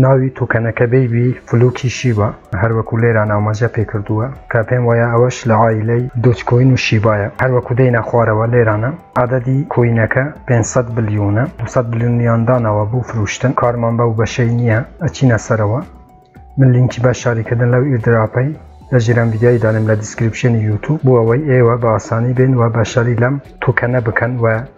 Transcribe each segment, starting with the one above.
ناوی توکەنەکە بەیبی فلوکی شیبا هەر وەکو لێران ئاماژە پێ کردووە کە پێم وایە ئەوەش لە عایلەی دۆج کۆین و شیبایە هەر وەکو دێینە خوارەوە لێرانە عەدەدی کۆینەکە پێنج سەد بلیونە دوو سەد بلیونیان داناوە بۆ فروشتن کارمان بەو بەشەی نییە ئەچینە سەرەوە من لینکی بەشداری کردن لەو ئیردراپەی لە ژیران ڤیدیۆی دانێم لە دیسکریپشنی یوتوب بۆ ئەوەی ئێوە بە ئاسانی بێن و بەشداری لەم توکەنە بکەن و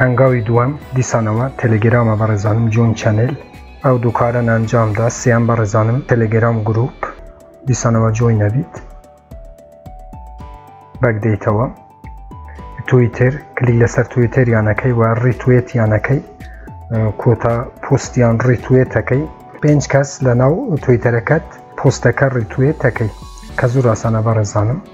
هەنگاوی دووەم دیسانەوە تێلێگرامە بەڕێزانم جۆین چەنێل ئەو دوو کارەن ئەنجامدا سێیەم بەڕێزانم تێلێگرام گروپ دیسانەوە جۆین نەبیت بەگدەیتەوە تویتر کلیک لەسەر تویتر یانەکەی و ڕیتوێت یانەکەی کۆتا پوستیان ڕیتوێتەکەی پێنج کەس لە ناو تویتەرەکەت پۆستەکە ڕیتوێتەکەی کە زۆر ئاسانە بەڕێزانم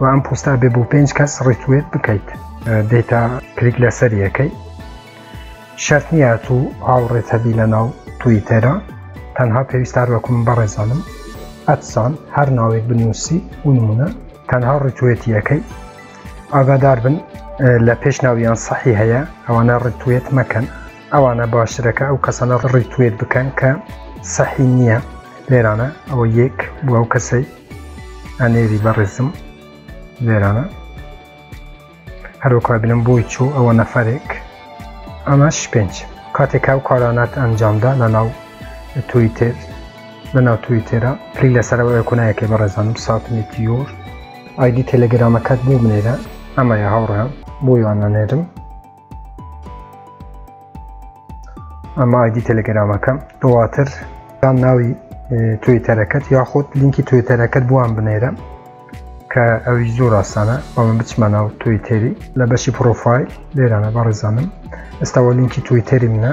و ئەم پۆستا بێ بۆ پێنج کەس ڕیتوێت بکەیت دەیتا کلیک لەسەر یەکەی شەرت نییە تو هاوڕێت هەبی لە ناو توی تێرا تەنها پێویستار وەکوم بەڕێزانم ئەتسان هەر ناوێک بنووسی و نمونە تەنها ڕیتوێتی یەکەی ئاگادار بن لە پێش ناویان سەحی هەیە ئەوانە ڕیتوێت مەکەن ئەوانە باشترەکە ئەو کەسانە ڕیتوێت بکەن کە سەحی نییە لێرانە ئەوە یەک بۆ ئەو کەسەی ئەنێری بەڕێزم لێرانە هەروەکو بینم بۆی چوو ئەوە نەفەرێک ئەمەش پێنج کاتێک ئەو کارانات ئەنجامدا لە ناو تویتر لە ناو تویتێرە پلی لەسەرەوە ئەکونایەکەی بەڕێزانم ساتمی تیۆر ئایدی تەلەگرامەکەت بۆ بنێرە ئەمەیە هاوڕێیان بۆ یوانەنێرم ئەمە ئایدی تەلەگەرامەکەم دواتر دام ناوی توێتەرەکەت یاخود لینکی توێتەرەکەت بووان بنێرە کە ئەوی زۆر ئاسانە بەڵم بچمە ناو تویتەری لە بەشی پرۆفایل لێرانە بەڕێزانم ئێستاوە لینکی تویتەری منە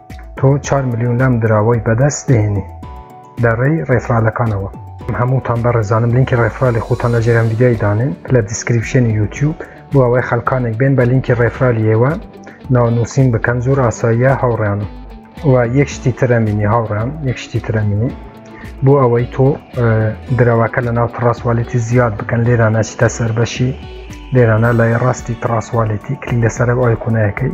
تۆ چوار ملیون لەم دراوەی بەدەست دێنی لە ڕێی ڕێفرالەکانەوە هەمووتان بەڕێزانم لینکی ڕێفرالی خوتان لە ژێرم ویددیای دانێن لە دیسکریپشنی یوتیوب بۆ ئەوەی خەلکانێک بێن بە لینکی ڕێفرالیەوە ناونووسین بکەن زۆر ئاساییە هاوڕیانم و یەک شتی ترەمینی هاوڕیان یەک شتی ترەمینی بۆ ئەوەی تۆ درەوەکە لە ناو تڕاستوالێتی زیاد بکەن لێرا نەچتە سەربەشی لێرانە لای ڕاستی تڕاستوالێتی کلی لەسەر ئایکونایەکەی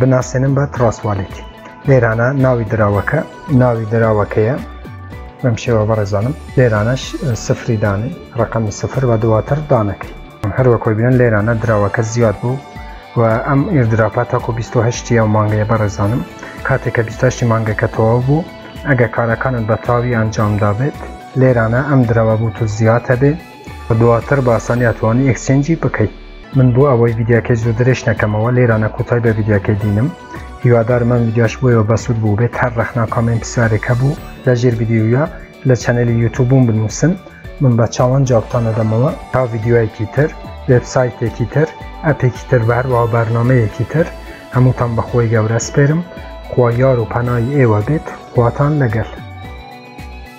بناسێنم بە تڕاسوالیت لێرانە ناوی دراوەکە ناوی دراوەکەیە بەم شێوە بەڕێزانم لێرانەش سفری دانێ ڕقمی سفر و دواتر دانەکەی هەروەکۆی بێن لێرانە دراوەکە زیاد بوو و ئەم ئێردراپە تاکو 28 ئەو مانگەیە بەڕێزانم کاتێککە 28 مانگەکە تەواو بوو ئەگە کارەکانت بە تاوی ئەنجامدا بێت لێرانە ئەم درەوە بوو تو زیاتە بێت و دواتر بە ئاسانی ئەتوانی ئێکسچێنجی بکەی. من بۆ ئەوەی ڤیدیاکەی زۆر درێژ نەکەمەوە لێرانە کوتای بە ڤیدیاکەی دینم هیوادارم ئەم ڤیدیاش بۆیەوە بەسود بوو بێت هەر ڕەخنا کامێن پسیارێک هەبوو لە ژێر ڤیدیویە لە چەنەلی یوتوبوم بنووسن من بە چاوان جوابتان ئەدەمەوە تا ڤیدیوایەکی تر وێبسایتێکی تر ئەپێکی تر بە هەروەها بەرنامەیەکی تر هەمووتان بەخۆی گەورە سپێرم خوا یار و پەنای ئێوە بێت خواتان لەگەل